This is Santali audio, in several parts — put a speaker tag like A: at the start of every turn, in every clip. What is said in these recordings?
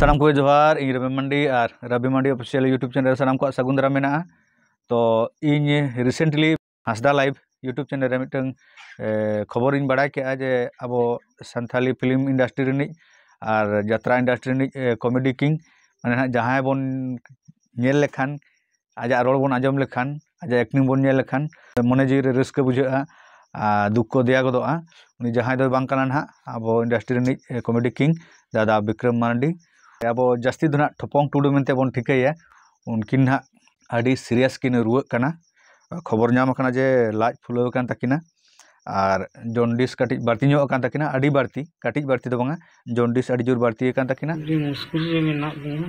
A: ᱥᱟᱱᱟᱢ ᱠᱚᱜᱮ ᱡᱚᱦᱟᱨ ᱤᱧ ᱨᱚᱵᱤ ᱢᱟᱱᱰᱤ ᱟᱨ Robi Mandi official YouTube channel ᱥᱟᱱᱟᱢ ᱠᱚᱣᱟᱜ ᱥᱟᱹᱜᱩᱱ ᱫᱟᱨᱟᱢ ᱢᱮᱱᱟᱜᱼᱟ ᱛᱚ ᱤᱧ ᱨᱤᱥᱮᱱᱴᱞᱤ ᱦᱟᱸᱥᱫᱟ ᱞᱟᱭᱤᱵᱷ ᱤᱭᱩᱴᱩᱵᱽ ᱪᱮᱱᱮᱞ ᱨᱮ ᱢᱤᱫᱴᱟᱝ ᱠᱷᱚᱵᱚᱨᱤᱧ ᱵᱟᱲᱟᱭ ᱠᱮᱜᱼᱟ ᱡᱮ ᱟᱵᱚ ᱥᱟᱱᱛᱷᱟᱞᱤ ᱯᱷᱤᱞᱢ ᱤᱱᱰᱟᱥᱴᱨᱤ ᱨᱤᱱᱤᱡ ᱟᱨ ᱡᱟᱛᱨᱟ ᱤᱱᱰᱟᱥᱴᱨᱤ ᱨᱤᱱᱤᱡ ᱠᱚᱢᱮᱰᱤ ᱠᱤᱝ ᱢᱟᱱᱮ ᱦᱟᱸᱜ ᱡᱟᱦᱟᱸᱭ ᱵᱚᱱ ᱧᱮᱞ ᱞᱮᱠᱷᱟᱱ ᱟᱡᱟᱜ ᱨᱚᱲ ᱵᱚᱱ ᱟᱸᱡᱚᱢ ᱞᱮᱠᱷᱟᱱ ᱟᱡᱟᱜ ᱮᱠᱴᱤᱝ ᱵᱚᱱ ᱧᱮᱞ ᱞᱮᱠᱷᱟᱱ ᱢᱚᱱᱮ ᱡᱤᱣᱤ ᱨᱮ ᱨᱟᱹᱥᱠᱟᱹ ᱵᱩᱡᱷᱟᱹᱜᱼᱟ ᱟᱨ ᱫᱩᱠ ᱠᱚ ᱫᱮᱭᱟ ᱜᱚᱫᱚᱜᱼᱟ ᱩᱱᱤ ᱡᱟᱦᱟᱸᱭ ᱫᱚᱭ ᱵᱟᱝ ᱠᱟᱱᱟ ᱱᱟᱦᱟᱜ ᱟᱵᱚ ᱤᱱᱰᱟᱥᱴᱨᱤ ᱨᱤᱱᱤᱡ ᱠᱚᱢᱮᱰᱤ ᱠᱤᱝ ᱫᱟᱫᱟ ᱵᱤᱠᱨᱚᱢ ᱢᱟᱨᱰᱤ ᱟᱵᱚ ᱡᱟᱹᱥᱛᱤ ᱫᱚ ᱱᱟᱦᱟᱜ ᱴᱷᱚᱯᱚᱝ ᱴᱩᱰᱩ ᱢᱮᱱᱛᱮ ᱵᱚᱱ ᱴᱷᱤᱠᱟᱹᱭᱮᱭᱟ ᱩᱱᱠᱤᱱ ᱱᱟᱦᱟᱜ ᱟᱹᱰᱤ ᱥᱤᱨᱤᱭᱟᱥ ᱠᱤᱱ ᱨᱩᱣᱟᱹᱜ ᱠᱟᱱᱟ ᱠᱷᱚᱵᱚᱨ ᱧᱟᱢ ᱠᱟᱱᱟ ᱡᱮ ᱞᱟᱡ ᱯᱷᱩᱞᱟᱹᱣ ᱟᱠᱟᱱ ᱛᱟᱹᱠᱤᱱᱟ ᱟᱨ ᱡᱚᱱᱰᱤᱥ ᱠᱟᱹᱴᱤᱡ ᱵᱟᱹᱲᱛᱤ ᱧᱚᱜ ᱟᱠᱟᱱ ᱛᱟᱹᱠᱤᱱᱟ ᱟᱹᱰᱤ ᱵᱟᱹᱲᱛᱤ ᱠᱟᱹᱴᱤᱡ ᱵᱟᱹᱲᱛᱤ ᱫᱚ ᱵᱟᱝᱟ ᱡᱚᱱᱰᱤᱥ ᱟᱹᱰᱤ ᱡᱳᱨ ᱵᱟᱹᱲᱛᱤ ᱟᱠᱟᱱ ᱛᱟᱹᱠᱤᱱᱟ ᱟᱹᱰᱤ ᱢᱩᱥᱠᱤᱞ ᱨᱮ
B: ᱢᱮᱱᱟᱜ ᱞᱤᱧᱟ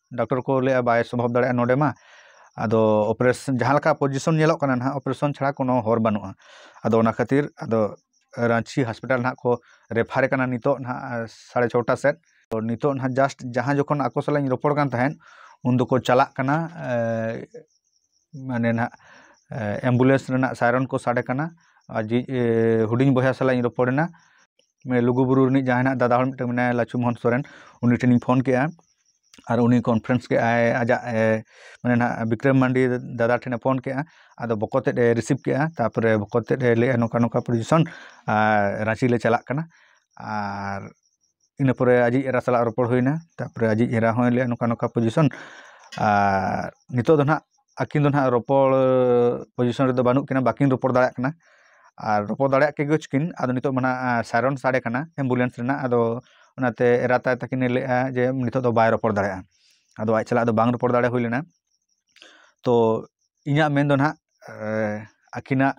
A: ᱰᱟᱠᱴᱚᱨ ᱠᱚ ᱞᱟᱹᱭᱮᱜᱼᱟ ᱵᱟᱭ ᱥᱚᱵᱷᱟᱵ ᱫᱟᱲᱮᱭᱟᱜᱼᱟ ᱱᱚᱰᱮ ᱢᱟ ᱟᱫᱚ ᱚᱯᱟᱨᱮᱥᱚᱱ ᱡᱟᱦᱟᱸ ᱞᱮᱠᱟ ᱯᱚᱡᱤᱥᱚᱱ ᱧᱮᱞᱚᱜ ᱠᱟᱱᱟ ᱦᱟᱜ ᱚᱯᱟᱨᱮᱥᱚᱱ ᱪᱷᱟᱲᱟ ᱠᱳᱱᱳ ᱦᱚᱨ ᱵᱟᱹᱱᱩᱜᱼᱟ ᱟᱫᱚ ᱚᱱᱟ ᱠᱷᱟᱹᱛᱤᱨ ᱟᱫᱚ ᱨᱟᱺᱪᱤ ᱦᱚᱥᱯᱤᱴᱟᱞ ᱦᱟᱜ ᱠᱚ ᱨᱮᱯᱷᱟᱨᱮ ᱠᱟᱱᱟ ᱱᱤᱛᱚᱜ ᱦᱟᱜ ᱥᱟᱲᱮ ᱪᱷᱚᱴᱟ ᱥᱮᱜ ᱛᱚ ᱱᱤᱛᱚᱜ ᱦᱟᱜ ᱡᱟᱥᱴ ᱡᱟᱦᱟᱸ ᱡᱚᱠᱷᱚᱱ ᱟᱠᱚ ᱥᱟᱞᱟᱜ ᱤᱧ ᱨᱚᱯᱚᱲ ᱠᱟᱱ ᱛᱟᱦᱮᱸᱜ ᱩᱱ ᱫᱚᱠᱚ ᱪᱟᱞᱟᱜ ᱠᱟᱱᱟ ᱢᱟᱱᱮ ᱦᱟᱜ ᱮᱢᱵᱩᱞᱮᱱᱥ ᱨᱮᱱᱟᱜ ᱥᱟᱭᱨᱚᱱ ᱠᱚ ᱥᱟᱰᱮ ᱠᱟᱱᱟ ᱟᱨ ᱡᱮ ᱦᱩᱰᱤᱧ ᱵᱚᱭᱦᱟ ᱥᱟᱞᱟᱜ ᱤᱧ ᱨᱚᱯᱚᱲ ᱮᱱᱟ ᱞᱩᱜᱩᱼᱵᱩᱨᱩ ᱨᱤᱱᱤᱡ ᱡᱟᱦᱟᱸᱭ ᱱᱟᱜ ᱫᱟᱫᱟ ᱦᱚᱲ ᱢᱤᱫᱴᱟᱱ ᱢᱮᱱᱟᱭᱟ ᱞᱟᱪᱷᱩ ᱢᱚᱦᱚᱱ ᱥᱚᱨᱮᱱ ᱩᱱᱤ ᱴᱷᱮᱱᱤᱧ ᱯᱷᱳᱱ ᱠᱮᱫᱼᱟ ᱟᱨ ᱩᱱᱤ ᱠᱚᱱᱯᱷᱟᱨᱮᱱᱥ ᱠᱮᱫᱼᱟᱭ ᱟᱡᱟᱜ ᱢᱟᱱᱮ ᱱᱟᱜ ᱵᱤᱠᱨᱚᱢ ᱢᱟᱱᱰᱤ ᱫᱟᱫᱟ ᱴᱷᱮᱱᱮ ᱯᱷᱳᱱ ᱠᱮᱫᱼᱟ ᱟᱫᱚ ᱵᱚᱠᱚᱛ ᱛᱮᱫᱼᱮ ᱨᱤᱥᱤᱵᱷ ᱠᱮᱫᱼᱟ ᱛᱟᱨᱯᱚᱨᱮ ᱵᱚᱠᱚᱛ ᱛᱮᱫᱼᱮ ᱞᱟᱹᱭᱮᱫᱼᱟ ᱱᱚᱝᱠᱟ ᱱᱚᱝᱠᱟ ᱯᱚᱡᱤᱥᱚᱱ ᱟᱨ ᱨᱟᱺᱪᱤ ᱞᱮ ᱪᱟᱞᱟᱜ ᱠᱟᱱᱟ ᱟᱨ ᱤᱱᱟᱹ ᱯᱚᱨᱮ ᱟᱡᱤᱡ ᱮᱨᱟ ᱥᱟᱞᱟᱜ ᱨᱚᱯᱚᱲ ᱦᱩᱭᱱᱟ ᱛᱟᱨᱯᱚᱨᱮ ᱟᱡᱤᱡ ᱮᱨᱟ ᱦᱚᱸᱭ ᱞᱟᱹᱭᱮᱫᱼᱟ ᱱᱚᱝᱠᱟ ᱱᱚᱝᱠᱟ ᱯᱚᱡᱤᱥᱚᱱ ᱟᱨ ᱱᱤᱛᱚᱜ ᱫᱚ ᱱᱟᱜ ᱟᱹᱠᱤᱱ ᱫᱚ ᱱᱟᱦᱟᱜ ᱨᱚᱯᱚᱲ ᱯᱚᱡᱤᱥᱚᱱ ᱨᱮᱫᱚ ᱵᱟᱹᱱᱩᱜ ᱠᱤᱱᱟ ᱵᱟᱹᱠᱤᱱ ᱨᱚᱯᱚᱲ ᱫᱟᱲᱮᱭᱟᱜ ᱠᱟᱱᱟ ᱟᱨ ᱨᱚᱯᱚᱲ ᱫᱟᱲᱮᱭᱟᱜ ᱠᱮᱜᱮ ᱪᱚᱠᱤᱱ ᱟᱫᱚ ᱱᱤᱛᱚᱜ ᱢᱟ ᱱᱟᱦᱟᱜ ᱥᱟᱭᱨᱚᱱ ᱥᱟᱰᱮ ᱠᱟᱱᱟ ᱮᱢᱵᱩᱞᱮᱱᱥ ᱨᱮᱱᱟᱜ ᱟᱫᱚ ᱚᱱᱟᱛᱮ ᱮᱨᱟ ᱛᱟᱭ ᱛᱟᱹᱠᱤᱱᱮ ᱞᱟᱹᱭᱮᱜᱼᱟ ᱡᱮ ᱱᱤᱛᱚᱜ ᱫᱚ ᱵᱟᱭ ᱨᱚᱯᱚᱲ ᱫᱟᱲᱮᱭᱟᱜᱼᱟ ᱟᱫᱚ ᱟᱡ ᱥᱟᱞᱟᱜ ᱫᱚ ᱵᱟᱝ ᱨᱚᱯᱚᱲ ᱫᱟᱲᱮ ᱦᱩᱭ ᱞᱮᱱᱟ ᱛᱚ ᱤᱧᱟᱹᱜ ᱢᱮᱱᱫᱚ ᱱᱟᱦᱟᱜ ᱟᱹᱠᱤᱱᱟᱜ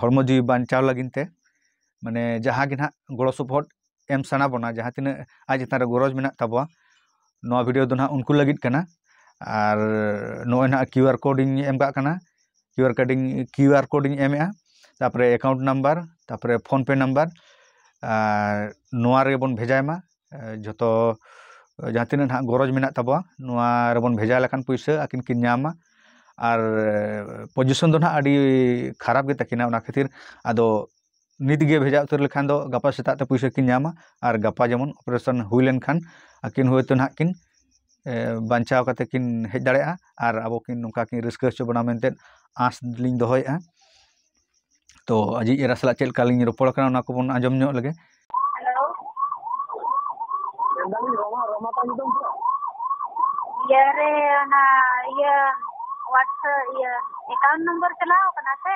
A: ᱦᱚᱲᱢᱚ ᱡᱤᱣᱤ ᱵᱟᱧᱪᱟᱣ ᱞᱟᱹᱜᱤᱫ ᱛᱮ ᱢᱟᱱᱮ ᱡᱟᱦᱟᱸ ᱜᱮ ᱱᱟᱦᱟᱜ ᱜᱚᱲᱚ ᱥᱚᱯᱚᱦᱚᱫ ᱮᱢ ᱥᱟᱱᱟ ᱵᱚᱱᱟ ᱡᱟᱦᱟᱸ ᱛᱤᱱᱟᱹᱜ ᱟᱡ ᱪᱮᱛᱟᱱ ᱨᱮ ᱜᱚᱨᱚᱡᱽ ᱢᱮᱱᱟᱜ ᱛᱟᱵᱚᱣᱟ ᱱᱚᱣᱟ ᱵᱷᱤᱰᱭᱳ ᱫᱚ ᱱᱟᱦᱟᱜ ᱩᱱᱠᱩ ᱞᱟᱹᱜᱤᱫ ᱠᱟᱱᱟ ᱟᱨ ᱱᱚᱜᱼᱚᱭ ᱱᱟᱦᱟᱜ ᱠᱤᱭᱩ ᱟᱨ ᱠᱳᱰ ᱤᱧ ᱮᱢ ᱠᱟᱜ ᱠᱟᱱᱟ ᱠᱤᱭᱩ ᱟᱨ ᱠᱳᱰ ᱤᱧ ᱠᱤᱭᱩ ᱟᱨ ᱠᱳᱰ ᱤᱧ ᱮᱢᱮᱜᱼᱟ ᱛᱟᱨᱯᱚᱨᱮ ᱮᱠᱟᱣᱩᱱᱴ ᱱᱟᱢᱵᱟᱨ ᱛᱟᱨᱯᱚᱨᱮ ᱯᱷᱳᱱ ᱯᱮ ᱱᱟᱢᱵᱟᱨ ᱟᱨ ᱱᱚᱣᱟ ᱨᱮᱜᱮ ᱵᱚᱱ ᱵᱷᱮᱡᱟᱭ ᱢᱟ ᱡᱷᱚᱛᱚ ᱡᱟᱦᱟᱸ ᱛᱤᱱᱟᱹᱜ ᱱᱟᱦᱟᱜ ᱜᱚᱨᱚᱡᱽ ᱢᱮᱱᱟᱜ ᱛᱟᱵᱚᱣᱟ ᱱᱚᱣᱟ ᱨᱮᱵᱚᱱ ᱵᱷᱮᱡᱟ ᱞᱮᱠᱷᱟᱱ ᱯᱩᱭᱥᱟᱹ ᱟᱹᱠᱤᱱ ᱠᱤᱱ ᱧᱟᱢᱟ ᱟᱨ ᱯᱚᱡᱤᱥᱚᱱ ᱫᱚ ᱱᱟᱦᱟᱜ ᱟᱹᱰᱤ ᱠᱷᱟᱨᱟᱯ ᱜᱮᱛᱟ ᱠᱤᱱᱟ ᱚᱱᱟ ᱠᱷᱟᱹᱛᱤᱨ ᱟᱫᱚ ᱱᱤᱛᱜᱮ ᱵᱷᱮᱡᱟ ᱩᱛᱟᱹᱨ ᱞᱮᱠᱷᱟᱱ ᱫᱚ ᱜᱟᱯᱟ ᱥᱮᱛᱟᱜ ᱛᱮ ᱯᱩᱭᱥᱟᱹ ᱠᱤᱱ ᱧᱟᱢᱟ ᱟᱨ ᱜᱟᱯᱟ ᱡᱮᱢᱚᱱ ᱚᱯᱟᱨᱮᱥᱚᱱ ᱦᱩᱭ ᱞᱮᱱᱠᱷᱟᱱ ᱟᱹᱠᱤᱱ ᱦᱳᱭᱛᱳ ᱱᱟᱦᱟᱜ ᱠᱤᱱ ᱵᱟᱧᱪᱟᱣ ᱠᱟᱛᱮᱫ ᱠᱤᱱ ᱦᱮᱡ ᱫᱟᱲᱮᱭᱟᱜᱼᱟ ᱟᱨ ᱟᱵᱚ ᱠᱤᱱ ᱱᱚᱝᱠᱟ ᱠᱤᱱ ᱨᱟᱹᱥᱠᱟᱹ ᱦᱚᱪᱚ ᱵᱚᱱᱟ ᱢᱮᱱᱛᱮ ᱟᱸᱥ ᱞᱤᱧ ᱫᱚᱦᱚᱭᱮᱫᱼᱟ ᱛᱳ ᱟᱡᱤᱡ ᱮᱨᱟ ᱥᱟᱞᱟᱜ ᱪᱮᱫ ᱞᱮᱠᱟ ᱞᱤᱧ ᱨᱚᱯᱚᱲ ᱠᱟᱱᱟ ᱚᱱᱟ ᱠᱚᱵᱚᱱ ᱟᱸᱡᱚᱢ ᱧᱚᱜ ᱞᱮᱜᱮ ᱤᱭᱟᱹ ᱨᱮ ᱚᱱᱟ ᱤᱭᱟᱹ
C: ᱦᱳᱣᱟᱴᱥᱮᱯ ᱤᱭᱟᱹ ᱮᱠᱟᱣᱩᱱᱴ ᱱᱚᱢᱵᱚᱨ ᱪᱟᱞᱟᱣ ᱠᱟᱱᱟ ᱥᱮ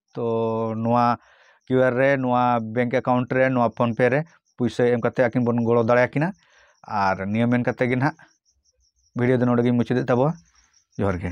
A: ᱛᱚ ᱱᱚᱣᱟ ᱠᱤᱭᱩ ᱟᱨ ᱨᱮ ᱱᱚᱣᱟ ᱵᱮᱝᱠ ᱮᱠᱟᱣᱩᱱᱴ ᱨᱮ ᱱᱚᱣᱟ ᱯᱷᱳᱱ ᱯᱮ ᱨᱮ ᱯᱩᱭᱥᱟᱹ ᱮᱢ ᱠᱟᱛᱮᱫ ᱟᱹᱠᱤᱱ ᱵᱚᱱ ᱜᱚᱲᱚ ᱫᱟᱲᱮ ᱟᱹᱠᱤᱱᱟ ᱟᱨ ᱱᱤᱭᱟᱹ ᱢᱮᱱ ᱠᱟᱛᱮᱫ ᱜᱮ ᱱᱟᱦᱟᱜ ᱵᱷᱤᱰᱤᱭᱳ ᱫᱚ ᱱᱚᱰᱮ ᱜᱤᱧ ᱢᱩᱪᱟᱹᱫᱮᱫ ᱛᱟᱵᱚᱱᱟ ᱡᱚᱦᱟᱨ ᱜᱮ